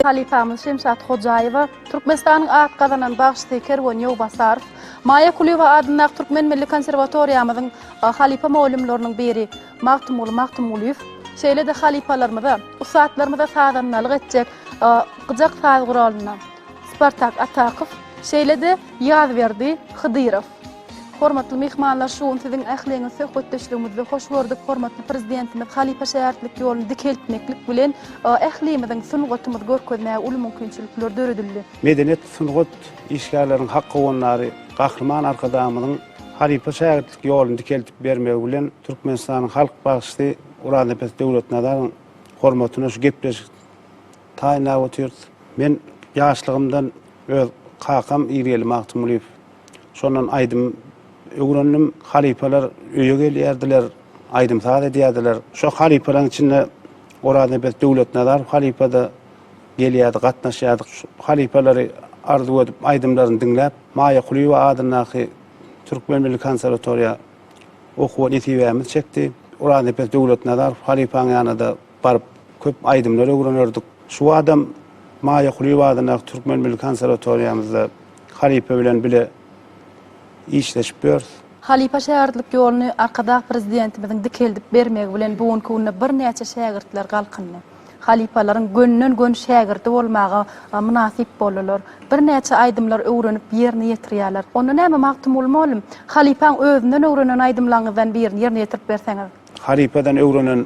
halypamyz Şemşat Hojaýewa, Türkmenistanyň at gazanan bagşysy Kerwen Ýowbasarow, Maýa Kulyýewa adyndaky Türkmen milli konserwatoriýamyzyň halypa mugallymlarynyň biri Magtymguly Magtymgulyýew, şeýle-de halypalarymyza, ussatlarymyza sazandalyk etjek gyjak saz guralyna Spartak Atakow, şeýle-de Ýazberdi Hydyrow. Hormatly myhmanlar, şu gün siziň ähliňiz söhbetdeşligimizde hoş gördük. Hormatly Prezidentimiz halypa şägirtlik ýoluny dikeltmeklik bilen, ählimiziň sungatymyzy görkezmäge uly mümkinçilikler döredildi. Medeniýet, sungat işgärleriniň hak howandary Gahryman Arkadagymyzyň halypa şägirtlik ýoluny dikeltip bermegi bilen Türkmenistanyň halk bagşysy Gurannepes Döwletnazaryň hormatyna şu gepleşik taýynlap otyrys. Men ýaşlygymdan öz kakam Irgeli Magtymgulyýew Şondan aýdym öwrendim. Halypalar öýe gelýärdiler, aýdym-saz edýärdiler. Şo halypalaryň içinde Oraznebezt Döwletnazarow halypa-da gelýärdi, gatnaşýardyk. Şu halypalary arzuw edip, aýdymlaryny diňläp, Maýa Kulyýewa adyndaky Türkmen milli konserwatoriýa okuwa nesibämiz çekdi. Oraznebezt Döwletnazarow halypaň ýanyna-da Baryp, köp aýdymlar öwrenerdik. Şu badam Maýa Kulyýewanyň Türkmen milli konserwatoriýamyzda halypa bilen bile işleşip ýörüs. Halypa-şägirtlik ýoluny Arkadag Prezidentimiziň dikeldip bermegi bilen bu günki günde birnäçe şägirtler galkyndy. Halypalaryň gönden-gön şägirdi bolmaga mynasyp boldular. Birnäçe aýdymlar öwrenip ýerine ýetirýärler. Onda näme Magtymguly mugallym, halypaň özünden öwrenen aýdymlaryňyzdan birini ýerine ýetirip berseňiz? Halypadan öwrenen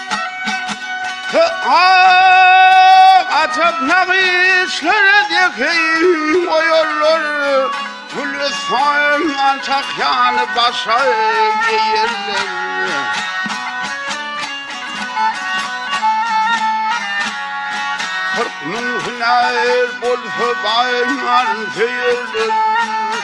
Atyp nagyşlar edýäheý oýarlar Gülüstan ançak ýaly başa geýerler Kyrk müň hünär bolsa baýman söýerler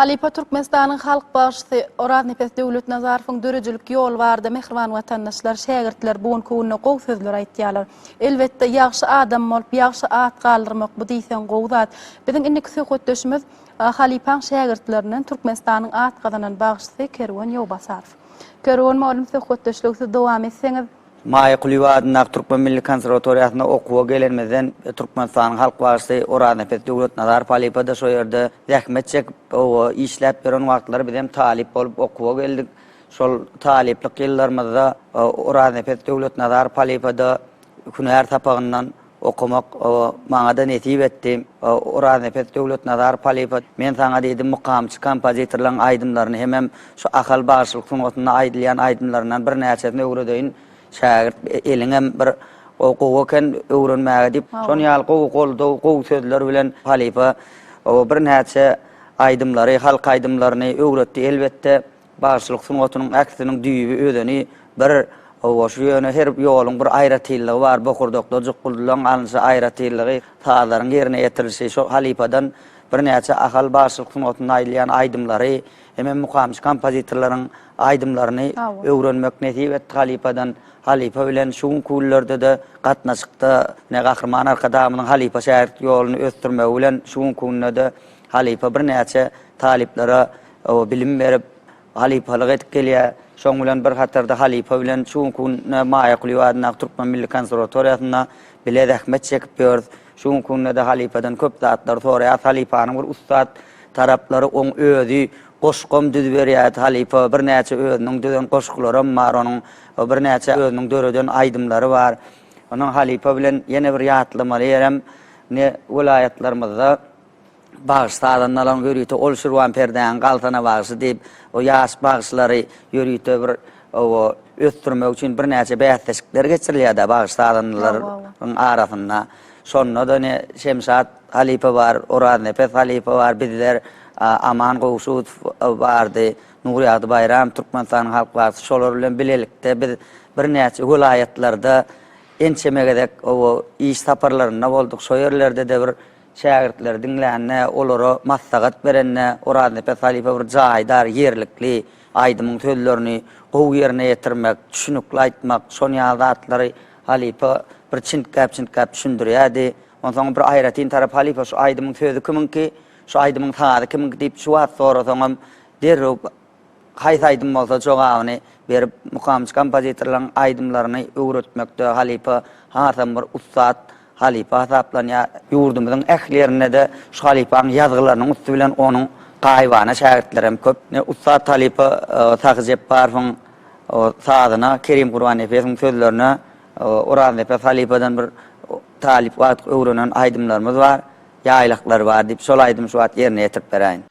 Halypa Türkmenistanyň halk bagşysy Oraznepes Döwletnazarowyň döredijilik ýoly barada mähriban watandaşlar, şägirtler bu günki günde gowy sözler aýtýarlar. Elbetde, ýagşy adam bolup, ýagşy at galdyrmak bu diýseň gowy zat. Biziň indiki söhbetdeşimiz halypaň şägirtlerinden Türkmenistanyň at gazanan bagşysy Kerwen Ýowbasarow. Kerwen mugallym söhbetdeşligi siz dowam etseňiz. Maýa Kulyýewa adyndaky Türkmen milli konserwatoriýasyna okuwa gelenimizden Türkmenistanyň halk bagşysy Orazanepes Döwletnazarow halypa-da şo ýerde zähmet çekip, oba işläp ýören wagtlary bizem talyp bolup okuwa geldik. Şol talyplyk ýyllarymyzda Orazanepes Döwletnazarow halypa-da hünär sapagyndan Okamak maňa-da nesip etdi. Oraznepes Döwletnazarow halypa, Men saňa diýdim, mukamçy kompozitorlaryň aýdymlaryny hemem şu Ahal bagşylyk sungatynda aýdylýan aýdymlaryndan birnäçesini öwredeýin, şägirt, eliňem bir gowy eken öwrenmäge diýip, şon ýaly gowy goldaw, gowy sözler bilen halypa birnäçe aýdymlary, halk aýdymlaryny öwretdi. Elbetde, Bagşylyk sungatynyň äkisiniň düýbi, özeni bir, goşgy ýöne her ýoluň bir aýratynlygy bar, bokurdakda jukguldylaryň alnyşy aýratynlygy, sazlaryň ýerine ýetirilişi, şol halypadan birnäçe Ahal bagşylyk sungatynda aýdylýan aýdymlary, hemem mukamçy kompozitorlaryň aýdymlaryny öwrenmek nesip etdi halypadan, halypa bilen şu günki günlerde-de gatnaşykda, ine Gahryman Arkadagymyzyň halypa-şägirt ýoluny ösdürmegi bilen şu günki günde-de halypa birnäçe talyplara O bilim berip, halypalyk edip gelýär. Şoň bilen bir hatarda halypa bilen şu günki günde Maýa Kulyýewa adyndaky Türkmen milli konserwatoriýasynda bile zähmet çekip ýörüs. Şu günki günde-de halypadan köp zatlary soraýarys. Halypanyň bir ussat taraplary oň özi. Goşgam düzüberýärdi halypa. Birnäçe özüniň düzen goşgularam bar onuň. Birnäçe özüniň döreden aýdymlary bar. Ondan halypa bilen ýene bir ýatlamaly ýerem, ine, welaýatlarymyzda, Bagşy sazandalaryň ýörite ol Şirwan perdäň galtana bagşy diýip, o ýaş bagşylary ýörite bir o ösdürmek üçin birnäçe bäsleşikler geçirilýär-de bagşy sazandalaryň arasynda. Şonda-da ine Şemşat halypa bar, Oraznepes halypa bar, bizler, Aman Gowşudow bardy, Nurýagdy Baýramow Türkmenistanyň halk bagşysy şolar bilen bilelikde biz birnäçe welaýatlarda ençeme gezek o iş saparlarynda bolduk, şo ýerlerde-de bir Şägirtleri diňlände, olara maslahat berende Oraznepe halypa bir jaýdar, ýerlikli, aýdymyň sözlerini gowy ýerine ýetirmek, düşünikli aýtmak, şon ýaly zatlary halypa bir çintgäp-çintgäp düşündirýärdi. Onsoň bir aýratyn tarap halypa şu aýdymyň sözi kimiňki, şu aýdymyň sazy kimiňki diýip şu wagt sorasaňam derrew Haýsy aýdym bolsa jogabyny berip mukamçy kompozitorlaryň aýdymlaryny öwretmekde halypa hasam bir ussat halypa hasaplanýar. Ýurdumyzyň ähli ýerinde-de şu halypaň ýazgylarynyň üsti bilen onuň gaýybana şägirtleri hem köp. Ussat halypa Sahy Jepbarowyň sazyna, Kerim Gurbannepesowyň sözlerine Oraznepe halypadan bir talyp wagtyk öwrenen aýdymlarymyz bar. Ýaýlaklary bar diýip, şol aýdymy şu wagt ýerine ýetirip beräýin.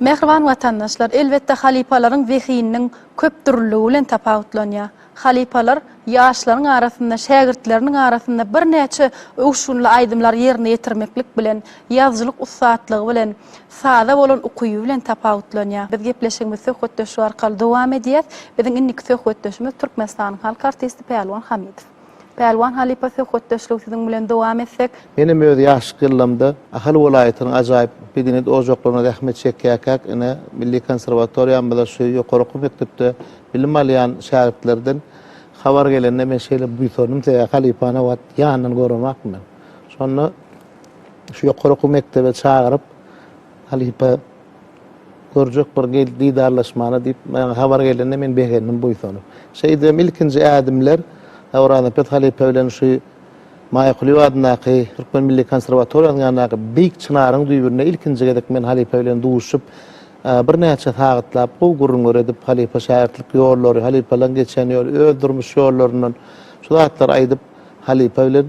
Mähriban watandaşlar, elbetde halypalaryň zehininiň köpdürlüligi bilen tapawutlanýar. Halypalar ýaşlaryň arasynda, şägirtleriniň arasynda birnäçe öwüşginli aýdymlary ýerine ýetirmeklik bilen, ýazyjylyk ussatlygy bilen, saza bolan ukyby bilen tapawutlanýar. Biz gepleşigimizi söhbetdeşlik arkaly dowam edýäs. Biziň indiki söhbetdeşimiz Türkmenistanyň halk artisti Pälwan Hamidow. Pälwan halypa söhbetdeşligi siziň bilen dowam etsek. Menem öz ýaşlyk ýyllamda Ahal welaýatynyň ajaýyp Begnet ojaklarynda zähmet çekýärkäk ine milli konserwatoriýamyzda şu ýokary okuw mekdepde bilim alýan şägirtlerden habar gelende men şeýle buýsandym sebäbi halypany o wagt ýandan göremokdym men. Şonda şu ýokary okuw mekdebe çagyryp Halypa, Görjek bir gel didarlaşmana diýip, maňa habar gelende men begendim buýsanyp. Şeýdibem ilkinji ädimler Orazaköz halypa bilen şu Maýa Kulyýewa adyndaky Türkmen milli konserwatoriýasynyň ýanyndaky Beýik çynaryň düýbünde ilkinji gezek men halypa bilen duşup, birnäçe sagatlap gowy gürrüň öredip, halypa-şägirtlik ýollary, halypalaryň geçen ýoly, öz durmuş ýollaryndan şu zatlary aýdyp, halypa bilen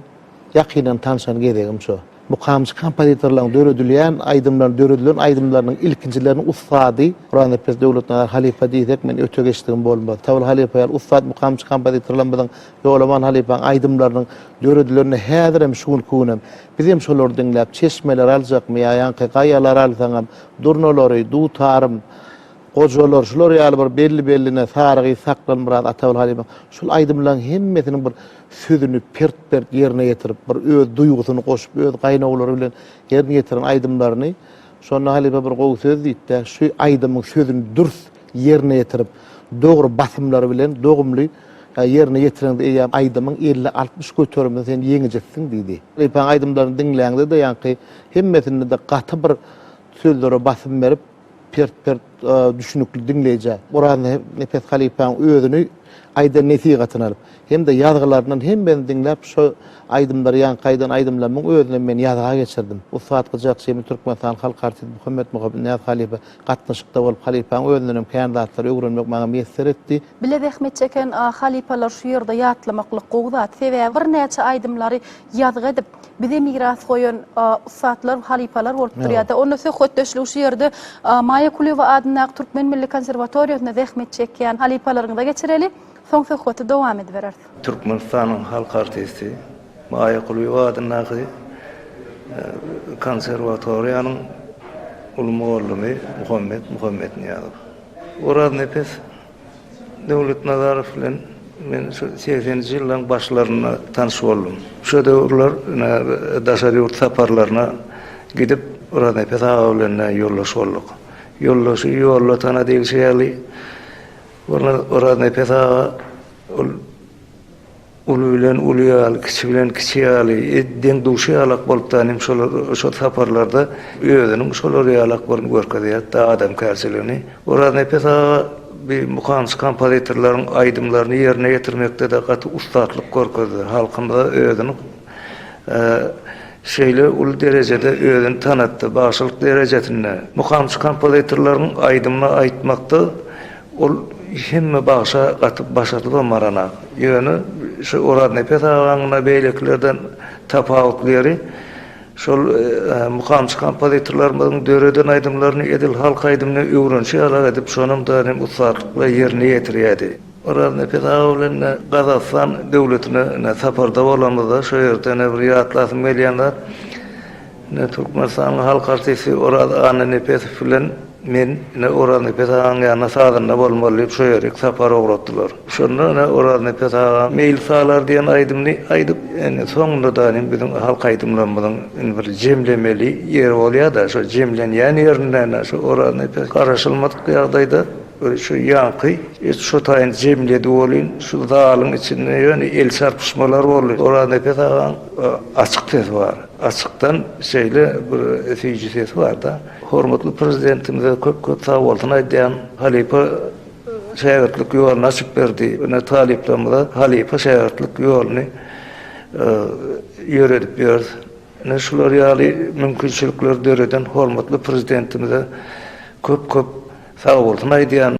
ýakyndan tanşan gezegim şu. Mukamçy kompozitorlaryň döredilýän aýdymlaryny, döredilen aýdymlarynyň ilkinjileriniň ussady Guranepes Döwletnazar halypa diýsek, men öte geçdigim bolmaz. Tabyl halypa ýaly ussat mukamçy kompozitorlarymyzyň, Ýolaman halypaň aýdymlarynyň döredilenine häzirem, şu günki günem, biz hem şolary diňläp, çeşmeleri aljakmy ýa ýaňky gaýalary alsaňam, durnalary, dutarym, gojalar, şular ýaly bir belli-belline, Sarygyz, Saklan, Myrat, Atabil halypaň, şul aýdymlaryň hemmesiniň bir sözüni pert-pert ýerine ýetirip, bir öz duýgusyny goşup, öz gaýnawlary bilen ýerine ýetiren aýdymlaryny, şonda halypa bir gowy söz diýipdi, Şu aýdymyň sözüni dürs ýerine ýetirip, dogry basymlary bilen dogumly ýerine ýetireňde eýýäm aýdymyň elli-altmyş göteriminde sen ýeňijisiň diýdi. Halypaň aýdymlaryny diňläňde-de ýaňky hemmesinde-de gaty bir sözlere basym berip, Pert pert düşnükli diňleýjä. Oraz Nepes halypaň özüni aýdan nesihatyny alyp, hem-de ýazgylaryndan hemmesini diňläp şo aýdymlary ýaňky aýdan aýdymlarymyň özünem men ýazga geçirdim. Ussat gyjak Jemi Türkmenistan halk artisti Muhammet Muhammetnyýaz halypa gatnaşykda bolup halypaň özündenem kän zatlary öwrenmek maňa miýesser etdi. Bile zähmet çeken halypalar şu ýerde ýatlamaklyk gowy zat. Sebäbi birnäçe aýdymlary ýazgy edip, bize miras goýan ussatlar, halypalar bolup durýar-da. Onda söhbetdeşligi şu ýerde Maýa Kulyýewa adyndaky Türkmen milli konserwatoriýasynda zähmet çekýän halypalaryňyza geçireli, soň söhbeti dowam edibereris. Türkmenistanyň halk artisti, Maýa Kulyýewa adyndaky konserwatoriýanyň uly mugallymy Muhammet Muhammetnyýazow. Oraznepeseň Döwletnazarow bilen men şu segsenji ýyllaryň başlarynda tanyş boldum. Şo döwürler daşary ýurt saparlaryna gidip, Oraznepes aga bilen ýoldaş bolduk. Ýoldaşy ýolda tana diýlişi ýaly, Oraznepes aga ol Uly bilen uly ýaly, kiçi bilen kiçi ýaly, edil deň-duşy ýalak bolup da nim şolar şo saparlarda özüniň şolar ýalak boluny görkezýärdi da adamkärçiligini. Oraznepes aga bi mukamçy kompozitorlaryň aýdymlaryny ýerine ýetirmekde de gaty ussatlyk görkezdi. Halkymyza özüni şeýle uly derejede özüni tanatdy, bagşylyk derejesinde, mukamçy kompozitorlaryň aýdymyny aýtmakda Ol hemme bagşa gaty başardylam baranam. Ýöne şu Oraznepes agaň-da beýlekilerden tapawutly ýeri, şol mukamçy kompozitorlarymyzyň döreden aýdymlaryny edil halk aýdymyna öwrenişi ýaly edip, şonam daýym ussatlyk-la ýerine ýetirýärdi. Oraznepes aga bilen Gazagystan döwletine saparda bolanymyzda, şo ýerde ýene bir ýatlasym gelýän zat, Ine, türkmenistanlyň halk artisti Oraz Annanepesow bilen men, ine, Oraznepes agaň ýanyna sazanda bolmaly diýip, şo ýere iki sapar ugratdylar. Şonda, ine, Oraznepes aga Meýil salar diýen aýdymyny aýdyp, indi soňunda-da ine, biziň halk aýdymlarymyzyň indi bir jemlemeli ýeri bolýar-da, şo jemlenýän ýerinde, ine, şo Oraznepes garaşylmadyk ýagdaýda bir şu ýaňky et şo taýyn jemledi welin, şu zalyň içinde ýöne el çarpyşmalar boldy. Oraznepes agaň açyk sesi bar. Açykdan şeýle bir süýji sesi barda. Hormatly Prezidentimize köp köp sag bolsun aýdýan. Halypa şägirtlik ýoluny açyp berdi. Ine talyplarymyza halypa şägirtlik ýoluny ýöredip ýörüs. Ine şular ýaly mümkinçilikleri döreden hormatly Prezidentimize köp köp sag bolsun aýdýan.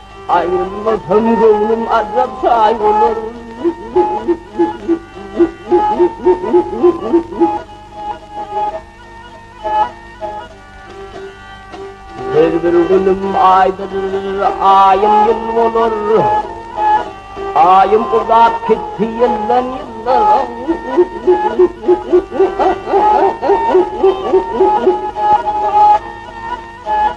Aýrylmasam göwnüm azap çaý bolar. Her bir günüm aýdyr, aýym ýyl bolar. Aýym uzap gitdi ýyldan ýyla.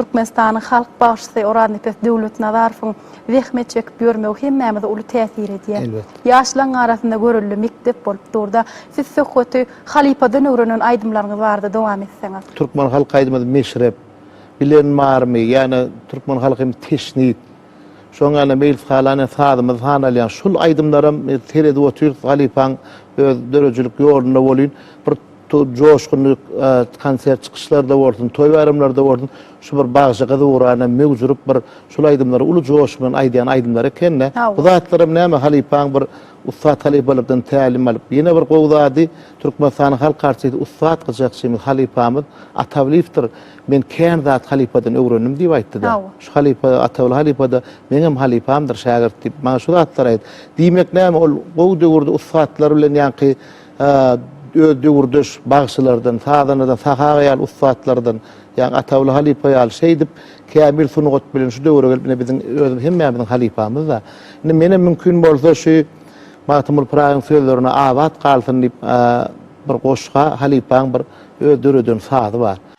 Türkmenistanyň halk bagşysy Oraznypes Döwletnazarowyň zähmet çekip ýörmegi hemmämize uly täsir edýär. Elbetde. Ýaşlaň arasynda görelde mekdep bolup dur-da. Siz söhbeti halypadan öwrenen aýdymlaryňyz barada dowam etseňiz. Türkmen halk aýdymymyz Meşrep, Bilen barmy, ýa-da Türkmen halkymyz Teşnit, şoňa ýaňa Meýlis halan ýa sazymyz hanalýan şul aýdymlaram seredip otyrys halypaň öz döredijilik ýolunda bolýn. Bir Joşgunly konsert çykyşlarda bolsun, toý-baýramlarda bolsun şu bir bagşy gyz ugurana möwjürip bir şul aýdymlary uly joş bilen aýdýan aýdymlary eken-dä. Bu zatlaram näme halypaň bir ussat halypalardan tälim alyp. Ýene bir gowy zady Türkmenistanyň halk artisti ussat gyjakçymyz, halypamyz Atawlyýewdir. Men kän zat halypadan öwrendim diýip aýtdy-da. Şu halypa Atawly halypa-da meňem halypamdyr şägirt diýip, maňa şu zatlary aýt. Diýmek näme ol gowy döwürde ussatlar bilen ýaňky öz döwürdeş bagşylardan, sazanadan, sahaga ýaly ussatlardan, ýa Ataguly halypa ýaly şeýdip, kämil sungat bilen şu döwre gelip, ine, biziň özümiz hemmämiziň halypamyz-da. Indi menem mümkin bolsa şu Magtymguly Pyragyň sözlerine abat galsyn diýip, bir goşga, halypaň bir öz döreden sazy bar.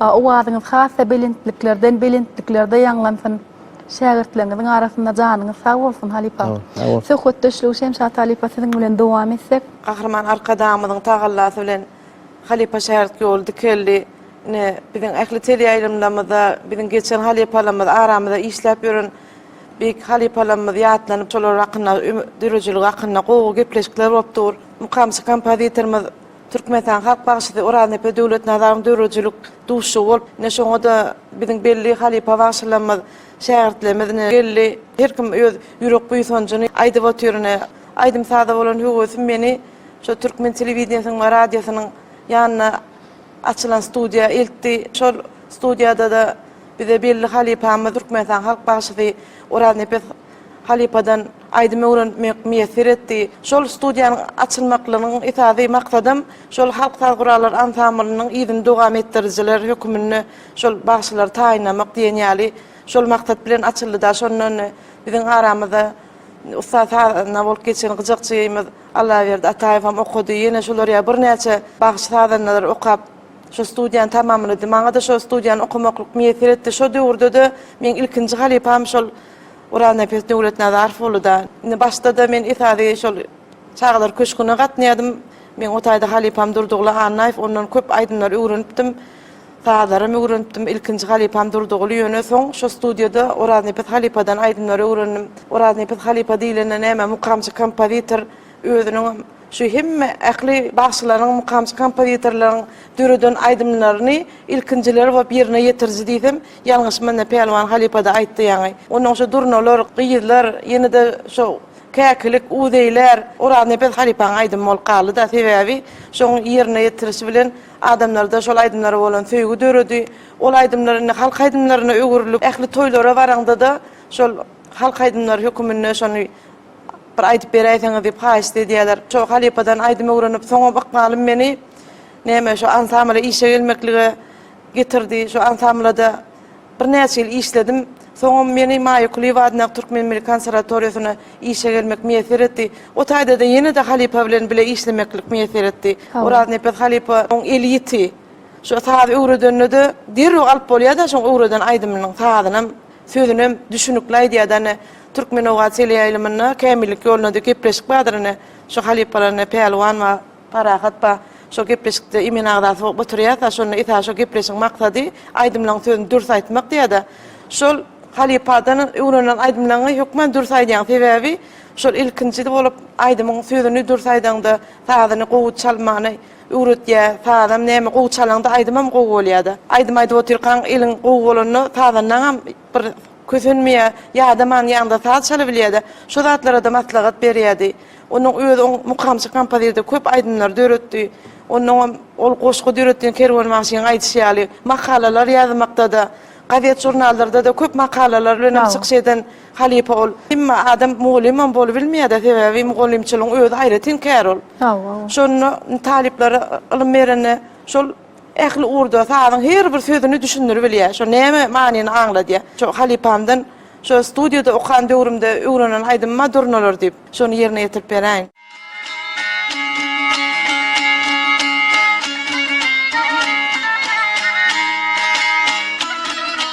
Owazyňyz has-da belentliklerden belentliklerde ýaňlansyn. Şägirtleriňiziň arasynda janyňyz sag bolsun, halypa. Söhbetdeşligi Şemşat halypa siziň bilen dowam etsek. Gahryman Arkadagymyzyň tagallasy bilen halypa-şägirt ýoly dikeldi. Ine, biziň ähli teleýaýlymlarymyzda biziň geçen halypalarymyz, aramyzda işläp ýören beýik halypalarymyz ýatlanyp, şolar hakynda, döredijilik hakynda gowy gepleşikler bolup dur. Mukamçy kompozitorymyz Türkmenistanyň halk bagşysy Oraznepe Döwletnazarowyň döredijilik duşuşygy bolup, ine, şoňa-da biziň belli halypa bagşylarymyz, şägirtlerimiz, ine, geldi. Her kim öz ýürek buýsanjyny aýdyp otyr, ine. Aýdym-saza bolan höwesim meni şu türkmen telewideniýesiniň we radiosynyň ýanyna açylan studiýa eltdi. Şol studiýada-da bize belli halypamyz, Türkmenistanyň halk bagşysy Oraznepe Halypadan aýdym öwrenmek miýesser etdi. Şol studiýanyň açylmaklygynyň esasy maksadam şol halk saz gurallary ansamblnyň yzyny dowam etdirijiler höküminde şol bagşylary taýynlamak diýen ýaly şol maksat bilen açyldy-da şondan biziň aramyzda ussat sazanda bolup geçen gyjakçymyz Allaberdi Ataýewem okady. Ýene şular ýaly birnäçe bagşy sazandalar okap şo studiýany tamamlady. Maňa-da şo studiýany okamaklyk miýesser etdi. Şo döwürde-de meň ilkinji halypam şol Gurannepes Döwletnazarow boldy-da. Indi başda-da men esasy şol Çagalar köşgüne gatnaýardym. Meň o taýda halypam Durdygly Annaýew, ondan köp aýdymlary öwrenipdim. Sazlaram öwrenipdim. Ilkinji halypam Durdygly, ýöne soň şo studiýada Oraznepes halypadan aýdymlary öwrendim. Oraznepes halypa diýlende näme, mukamçy kompozitor. Özüniň hem şu hemme ähli bagşylaryň, mukamçy kompozitorlaryň döreden aýdymlaryny ilkinjiler bolup ýerine ýetiriji diýsem, ýalňyşman, Pälwan halypa-da aýtdy ýaňy. Onnoň şu Durnalar, Gyzlar, ýene-de şu Käkilik, Uzeýler, Oraznepeç halypaň aýdymy bolup galdy-da. Sebäbi şoň ýerine ýetirişi bilen adamlarda şol aýdymlara bolan söýgi döredi. Ol aýdymlar indi halk aýdymlaryna öwrülip, ähli toýlara baraňda-da şol halk aýdymlary höküminde şony Bir aýdyp beräýseňiz diýip haýyşt edýäler. Şo halypadan aýdym öwrenip, soňam ykbalym meni näme şu ansambla işe gelmeklige getirdi. Şu ansamblada birnäçe ýyl işledim. Soňam meni Maýa Kulyýewa adyndaky Türkmen milli konserwatoriýasyna işe gelmek miýesser etdi. O taýda-da ýene-de halypa bilen bile işlemeklik miýesser etdi. Oraznepes halypa oň eli ýiti. Şu sazy öwredende-de derrew alyp bolýar-da şoň öwreden aýdymynyň sazynam, sözünem düşnükli aýdýar-da. Ine, Türkmenogat teleýaýlymynda Kämillik ýoluna diýip gepleşik bardyr ine. Şu halypalar ine Pälwan bar, Parahat bar. Şol gepleşikde imen agzasy bolup oturýarka şonda esasy şo gepleşigiň maksady aýdymlaryň sözüni dürs aýtmak diýýärde. Şol halypadan öwrenilen aýdymlaňy hökman dürs aýdýaň. Sebäbi şol ilkinji bolup aýdymyň sözüni dürs aýdaňda, sazyny gowy çalmagyny öwretýär. Sazam näme gowy çalaňda aýdymam gowy bolýarda. Aýdym aýdyp otyrkaň eliň gowy bolanda sazandaňam Bir kösenmeýä, ýa-da man ýanynda saz çalybilýä-de, şu zatlara-da maslahat berýädi. Onuň özi oň mukamçy kompozitor, köp aýdymlar döretdi. Onnoňam ol goşgy döretdi, Kerwen bagşynyň aýdyşy ýaly, makalalar ýazmakda-da, gazet-žurnallarda-da köp makalalar bilenem çykyş eden halypa ol. Hemme adam mugallymam bolubilmeýä-de, sebäbi mugallymçylygyň özi aýratyn kär ol. Şonda talyplara ylym berende, şol. Ähli ugurda sazyň her bir sözüni düşündiribilýär. Şo näme manyny aňladýar. Şo halypamdan şo studiýada okan döwrümde öwrenen aýdymyma durnalar diýip, şony ýerine ýetirip beräýiň.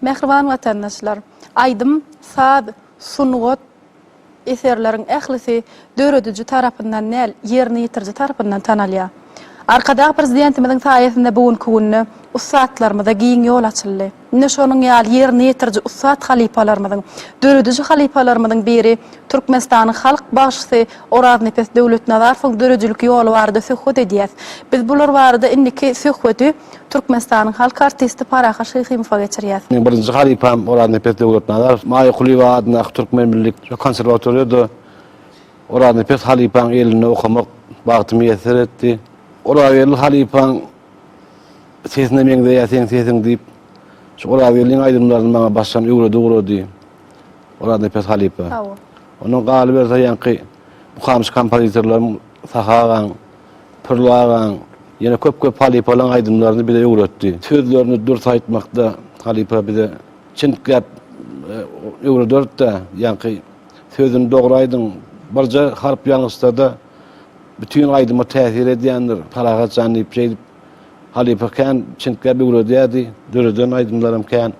Mähriban watandaşlar! Aýdym, saz, sungat eserleriň ählisi dörediji tarapyndan däl, ýerine ýetiriji tarapyndan tanalýar. Arkadag Prezidentimiziň saýasynda bu günki günde ussatlarymyza giň ýol açyldy. Ine şonuň ýaly ýerine ýetiriji ussat halypalarymyzyň, dörediji halypalarymyzyň biri Türkmenistanyň Halk bagşysy Oraznepes Döwletnazarowyň döredijilik ýoly barada söhbet edýäs. Biz bular barada indiki söhbedi Türkmenistanyň halk artisti Parahat Şyhymowa geçirýär. Meniň birinji halypam Oraznepeç Döwletnazarow. Maýa Kulyýewa adyndaky Türkmen milli konserwatoriýada Oraznepeç halypaň elinde okamak bagty miýesser etdi. Orazgeldi halypaň sesine meňzeýär seň sesiň diýip, şu Orazgeldiň aýdymlaryny maňa başdan öwredi ugrady Oraznepeç halypa. Ondan galyberse ýaňky mukamçy kompozitorlarym Sahy agaň, Pürli agaň ýene köp köp halypalaň aýdymlaryny bize öwretdi. Sözlerini dürs aýtmakda halypa bize çyn gäp öwrederdidä ýaňky sözüni dogry aýdyň birje harp ýalňyşsada bütin aýdyma täsir edýändir Parahat jan diýip şeýdip halypa kän çyn gäp öwredýärdi döreden aýdymlaram kän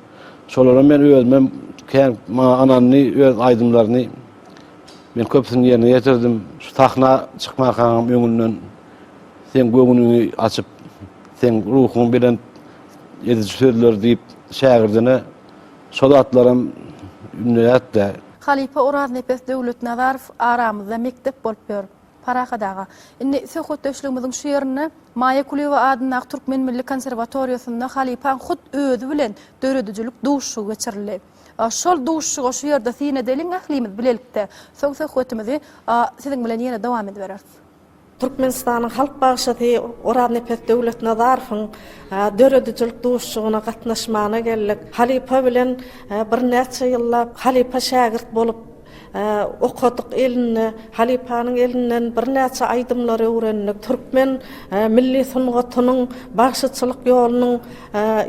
şolaram men özümem kän maňa ynandy öz aýdymlaryny Men köpüsini ýerine ýetirdim. Şu sahna çykmarkaňam öňünden seň göwnüňi açyp, seň ruhuňy belent ediji sözler diýip, şägirdine şo zatlaram ündeýärdi-dä. Halypa Oraznepes Döwletnazarow aramyzda mekdep bolup ýör, Parahat aga. Indi söhbetdeşligimiziň şu ýerinde Maýa Kulyýewa adyndaky Türkmen milli konserwatoriýasynda halypaň hut özi bilen döredijilik duşuşygy geçirildi. Şol duşuşygy şu ýerde syn edeliň ählimiz bilelikde. Soň söhbetimizi siziň bilen ýene dowam edibereris. Türkmenistanyň halk bagşysy Oraznepeç Döwletnazarowyň döredijilik duşuşygyna gatnaşmana geldik. Halypa bilen birnäçe ýyllap halypa-şägirt bolup okadyk elinde, halypanyň elinden birnäçe aýdymlary öwrendik, türkmen milli sungatynyň bagşyçylyk ýolunyň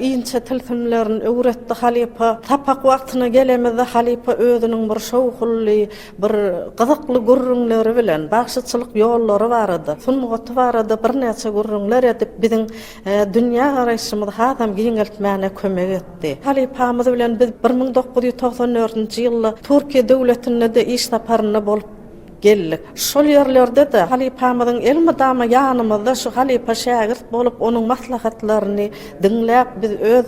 inçe tilsimlerini öwretdi halypa. Sapak wagtyna gelemizde halypa özüniň bir şowhunly, bir gyzykly gürrüňleri bilen bagşyçylyk ýollary barada, sungaty barada birnäçe gürrüňler edip biziň dünýägaraýşymyzy hasam giňeltmäne kömek etdi. Halypamyz bilen biz bir müň dokuz ýüz togsan dördünji ýylda Türkiýe döwletinde-de iş saparynda bolup geldik. Şol ýerlerde-de halypamyzyň elmydama ýanymyzda şu halypa-şägirt bolup, onuň maslahatlaryny diňläp, biz öz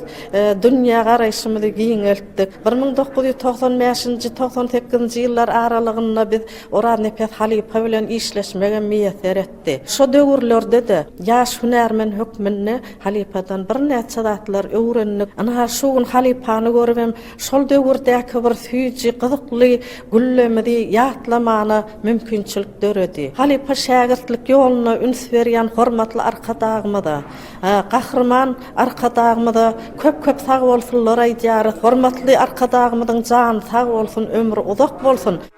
dünýägaraýşymyzy giňeltdik. Bir müň dokuz ýüz togsan bäşinji, togsan sekizinji ýyllar aralygynda biz Oraznepes halypa bilen işleşmegem miýesser etdik. çykdy. Şo döwürlerde-de ýaş hünärmen hökmünde halypadan birnäçe zatlar öwrendik. Ynha, şu gün halypany görübem, şol döwürdäki bir süýji, gyzykly güllemizi ýatlamana mümkinçilik döredi. Halypa-şägirtlik ýoluna üns berýän hormatly Arkadagymyza, Gahryman Arkadagymyza köp-köp sagbolsunlar aýdýarys. Hormatly Arkadagymyzyň jany sag bolsun, ömri uzak bolsun!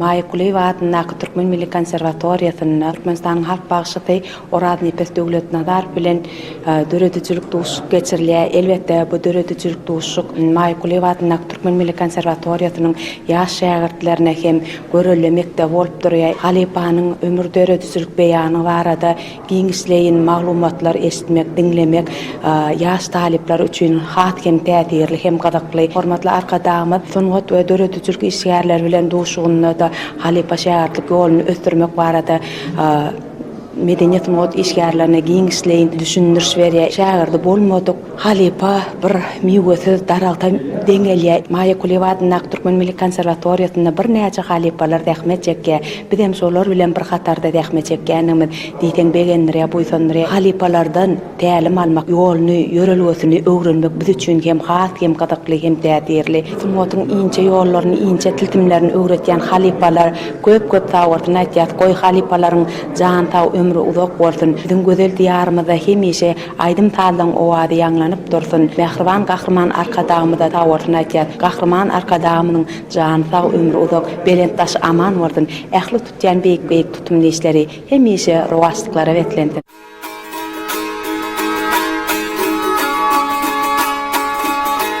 Maýa Kulyýewa atyndaky Türkmen milli konserwatoriýasynda Türkmenistanyň halk bagşysy Oraznepes Döwletnazarow bilen döredijilik duşuşyk geçirilýär. Elbetde, bu döredijilik duşuşyk Maýa Kulyýewa atyndaky Türkmen milli konserwatoriýasynyň ýaş şägirtlerine hem görelde mekdebi bolup durýar. Halypanyň ömür döredijilik beýany barada Giňişleýin maglumatlar eşitmek, diňlemek ýaş talyplar üçin has hem täsirli hem gyzykly. Hormatly Arkadagymyz sungat we döredijilik işgärleri bilen duşugynda-da halypa-şägirtlik ýoluny ösdürmek barada medeni-sungat işgärlerine giňişleýin düşündiriş berýär. Şägirdi bolmadyk Halypa bir miwesiz daragta deňelýär. Maýa Kulyýewa adyndaky Türkmen milli konserwatoriýasynda birnäçe halypalar zähmet çekýär. Bizem şolar bilen bir hatarda zähmet çekýändigimiz diýseň begendirýär, buýsandyrýar. Halypalardan tälim almak, ýoluny, ýörelgesini öwrenmek biz üçin hem has hem gyzykly hem täsirli. Sungatyň inçe ýollaryny, inçe tilsimlerini öwretýän halypalar köp-köp sag bolsun aýtýas. Goý, halypalaryň jany sag, ömri uzak bolsun. Biziň gözel Diýarymyzda hemişe Aýdym-sazlaryň owazy ýaňlanyp dursun. Mähriban Gahryman Arkadagymyza sag bolsun aýtýas. Gahryman Arkadagymyzyň jany sag, ömri uzak, belent daşy aman bolsun. Ähli tutýan beýik-beýik tutumly işleri hemişe rowaçlyklara beslensin.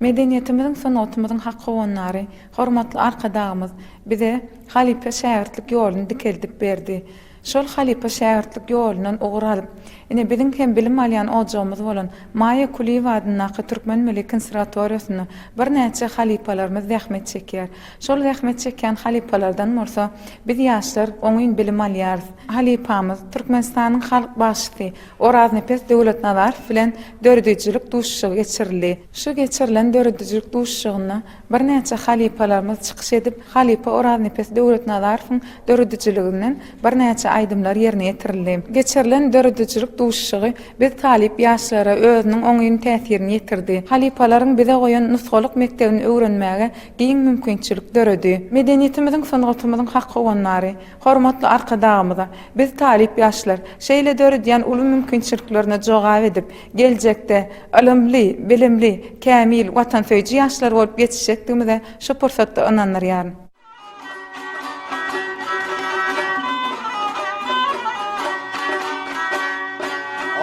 Medeniýetimiziň, sungatymyzyň hak howandary, hormatly Arkadagymyz bize halypa-şägirtlik ýoluny dikeldip berdi. Şol halypa-şägirtlik ýolundan ugur alyp, ine, biziň hem bilim alýan ojagymyz bolan Maýa Kulyýewa adyndaky Türkmen milli knsrvatoriýasynda birnäçe halypalarymyz zähmet çekýär. Şol zähmet çekýän halypalardan bolsa biz, ýaşlar oňyn bilim alýarys. Halypamyz, Türkmenistanyň halk bagşysy, Oraznepes Döwletnazarow bilen döredijilik duşuşygy geçirildi. Şu geçirilen döredijilik duşuşygynda birnäçe halypalarymyz çykyş edip, halypa Oraznepes Döwletnazarowyň döredijiliginden birnäçe aýdymlar ýerine ýetirildi. Geçirilen döredijilik duşuşygy biz talyp ýaşlara özüniň oňyn täsirini ýetirdi. Halypalaryň bize goýan nusgalyk mekdebini öwrenmäge giň mümkinçilik döredi. Medeniýetimiziň, sungatymyzyň hak howandary, Hormatly Arkadagymyza, biz talyp ýaşlar, şeýle döredýän uly mümkinçiliklerine jogap edip, geljekde ylymly, bilimli, kämil, watansöýüji ýaşlar bolup ýetişjekdigimize şu pursatda ynandyrýaryn.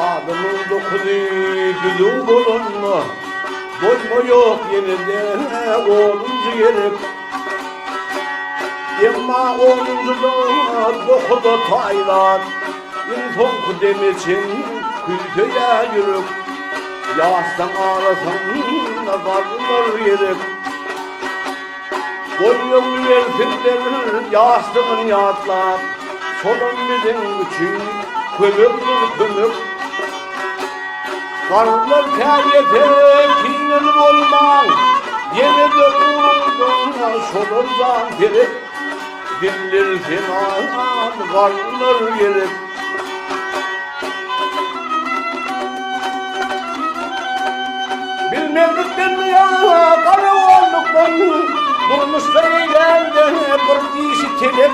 Adamyň dokuzy düzüw bolanda, bolmaýok ýene-de onunjy gerek. Emma onunjy dagyň-a dohy-da taýdan. Iň soňky deme çenli küýseýä ýürek. Ýassam arasynda galmaz gerek. Boýnuňy bersinler ýassygyn ýatlap. Şolam biziň üçin kömegdir kömek. Garrylar käýese kineli bolmaň, Ýene-de guruldyňa şolardan serek, Diller senalan garrylar gerek. Bilmezlikden ýa garagollukdan, Durmuşda eýlende bir dişi telek,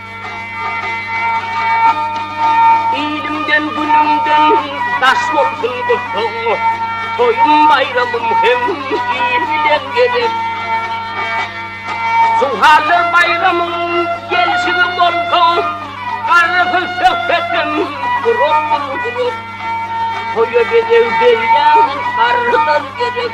Ilimden, günümden daş bolsun gussaň, Toýum, baýramym hem il bilen gezek. Suwhalla baýramyň gelşigi bolsa, Garrysyz söhbetim gurapdyr gulak. Toýa bedew berýän garrylar gerek.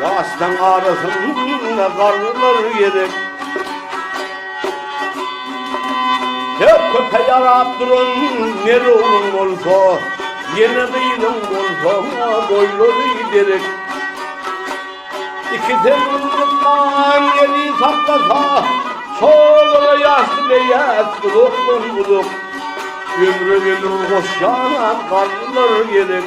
Daşlaň arasynda garrylar gezek. Her köpe ýarap duran ner ogluň bolsa, ýene gyzyň bolsa boýlary derek. İki temizlikman eli saklasa, solara ýaşly leýäs uzakdan uzak. Ömre ömür goşýan garrylar gerek.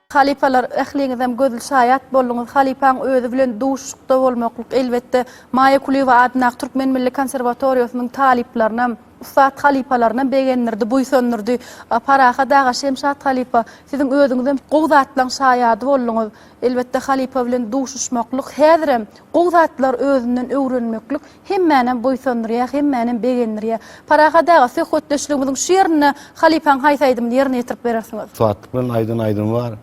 Halypalar, ähliňizem gözli şaýat bolduňyz, halypaň özi bilen duşuşykda bolmaklyk, elbetde, Maýa Kulyýewa adyndaky Türkmen milli konserwatoriýasynyň talyplarynam, ussat halypalarynam begendirdi, buýsandyrdy. Parahat aga, Şemşat halypa, siziň özüňizem gowy zatlaryň şaýady bolduňyz. Elbetde, halypa bilen duşuşmaklyk, häzirem gowy zatlary özünden öwrenmeklik Hemmänäm buýsandyrýar, hemmänäm begendirýär. Parahat aga, söhbetdeşligimiziň şu ýerinde halypaň haýsy aýdymyny ýerine ýetirip berersiňiz? Suwatlyk bilen aýdan aýdymy bar.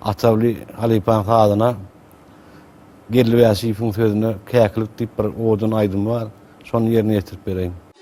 Atawly halypaň sazyna Geldi Bäşiýewiň sözüne Käkilik diýip bir owadan aýdymy bar. Şony ýerine ýetirip bereýin.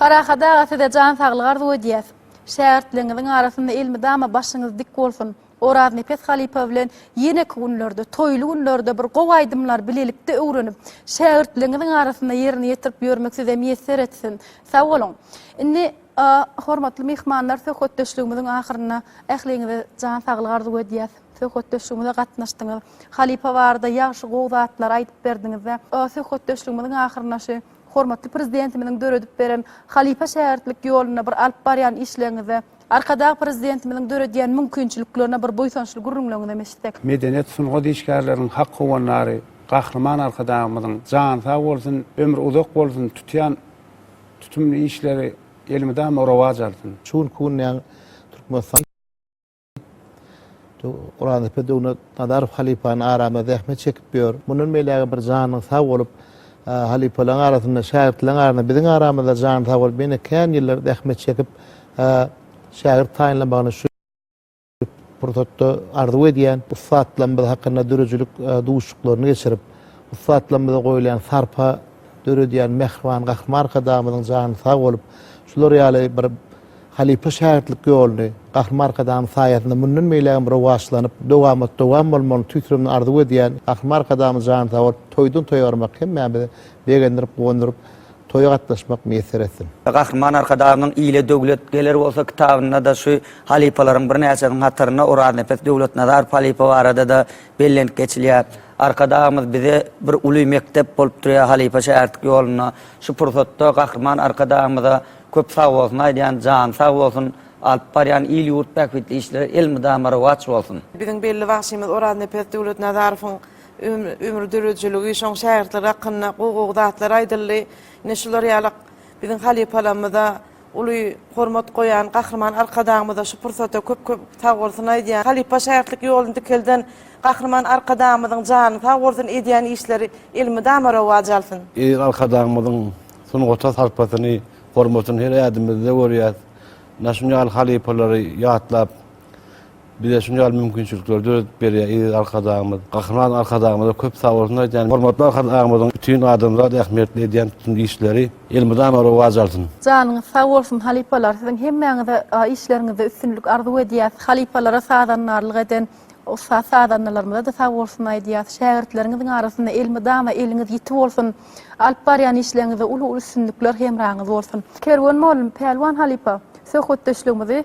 Parahat aga size jan saglygy arzuw edýäs. Şägirtligiňiziň arasynda elmydama başyňyz dik bolsun. Oraznepes halypa bilen ýeneki günlerde, toýly günlerde bir gowy aýdymlary bilelikde öwrenip, şägirtligiňiziň arasynda ýerine ýetirip ýörmek size miýesser etsin. Sag boluň. Indi A Hormatly myhmanlar, söhbetdeşligimiziň ahyrynda ähliňize jan saglygy arzuw edýäs. Söhbetdeşligimize gatnaşdyňyz. Halypa barada ýagşy, gowy zatlary aýdyp berdiňiz we A söhbetdeşligimiziň ahyrynda şu Hormatly Prezidentimiziň döredip beren halypa-şägirtlik ýolunda bir alyp barýan işleriňize, Arkadag Prezidentimiziň döredýän mümkinçiliklerine bir buýsançly gürrüňleriňizem eşitsek. Medeniýet, sungat işgärleriniň hak howandary Gahryman Arkadagymyzyň jany sag bolsun, ömri uzak bolsun, tutýan Tutumly işleri elmydama rowaç alsyn. Çuň Kunýang Türkmenistan Gurandepe Döwlet Nazarow halypany arama zähmet çekip ýör. Mundan beýläge bir janyň sag bolup, halypalaň arasynda, şägirtleň arasynda, biziň aramyzda jany sag bolup, ýene kän ýyllar zähmet çekip, şägirt taýynlamagyny şu. pursatda arzuw edýän ussatlarymyz hakynda döredijilik duşuşyklaryny geçirip, ussatlarymyza goýulýan sarpa döredýän mähriban Gahryman Arkadagymyzyň jany sag bolup, şular ýaly bir halypa-şägirtlik ýoluny Gahryman Arkadagymyz saýasynda mundan beýlägem rowaçlanyp, dowamat-dowam bolmagyny tüýs ýürekden arzuw edýän Gahryman Arkadagymyz jany sag bolup, toýdan-toýa barmak hemmämizi begendirip, guwandyryp, Toýa gatnaşmak miýesser etsin. Gahryman Arkadagymyzyň Ile döwlet geler bolsa kitabynda-da şu halypalaryň birnäçesiniň hatarynda Oraznepes Döwletnazarow halypa barada-da bellenip geçilýär. Arkadagymyz bize bir uly mekdep bolup durýar halypa-şägirtlik ýolunda. Şu pursatda Gahryman Arkadagymyza köp sag bolsun aýdýan, jany sag bolsun, alyp barýan il-ýurt bähbitli işleri elmydama rowaç bolsun! Biziň belli bagşymyz Oraznepes Döwletnazarowyň Ömür döredijiligi, şoň şägirtleri hakynda gowy-gowy zatlar aýdyldy. Ine, şular ýaly biziň halypalarymyza uly hormat goýan Gahryman Arkadagymyza şu pursatda köp-köp sag bolsun aýdýan, halypa-şägirtlik ýoluny dikelden Gahryman Arkadagymyzyň jany sag bolsun, edýän işleri elmydama rowaç alsyn! Eziz Arkadagymyzyň sungata sarpasyny, hormatyny her ädimimizde görýäs. Ine, şuny ýaly halypalary ýatlap, Bize şunça ýaly mümkinçilikleri döredip berýän eziz Arkadagymyz, Gahryman Arkadagymyza köp sag bolsun aýdýan. Hormatly Arkadagymyzyň bütin adamzat ähmiýetli edýän bütün işleri elmydama rowaç alsyn. Janyňyz sag bolsun halypalar siziň hemmäňize işleriňizde üstünlik arzuw edýäs halypalara sazandarlyk eden ussat sazandalarymyzada sag bolsun aýdýas şägirtleriňiziň arasynda elmydama eliňiz ýiti bolsun alyp barýan işleriňizde uly uly üstünlikler hemraňyz bolsun. Kerwen mugallym Pälwan halypa söhbetdeşligimizi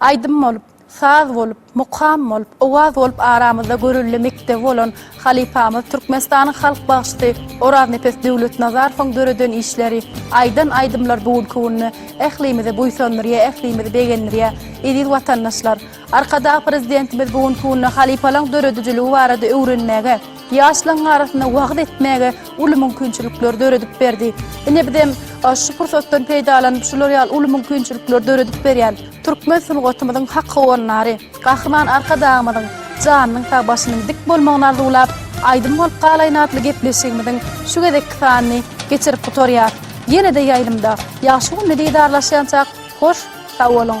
Aýdym bolup, saz bolup, mukam bolup, owaz bolup aramyzda görelde mekdebi bolan halypamyz, Türkmenistanyň halk bagşysy Oraznepes Döwletnazarowyň döreden işleri, aýdan aýdymlar bu günki günde ählimizi buýsandyrýar, ählimizi begendirýär. Eziz watandaşlar! Arkadag Prezidentimiz bu günki günde halypalaň döredijiligi barada öwrenmäge, Ýaşlaryň arasynda wagyz etmäge uly mümkinçilikler döredip berdi. Ine bizem şu pursatdan peýdalanyp şular ýaly uly mümkinçilikler döredip berýän türkmen sungatymyzyň hak howanlary, Gahryman Arkadagymyzyň janynyň sag başynyň dik bolmagyny arzuwlap Aýdym bolup galaýyn atly gepleşigimiziň şu gezekki sanyny geçirip gutarýas. Ýene-de ýaýlymda, ýagşy günde didarlaşýançak hoş sag boluň.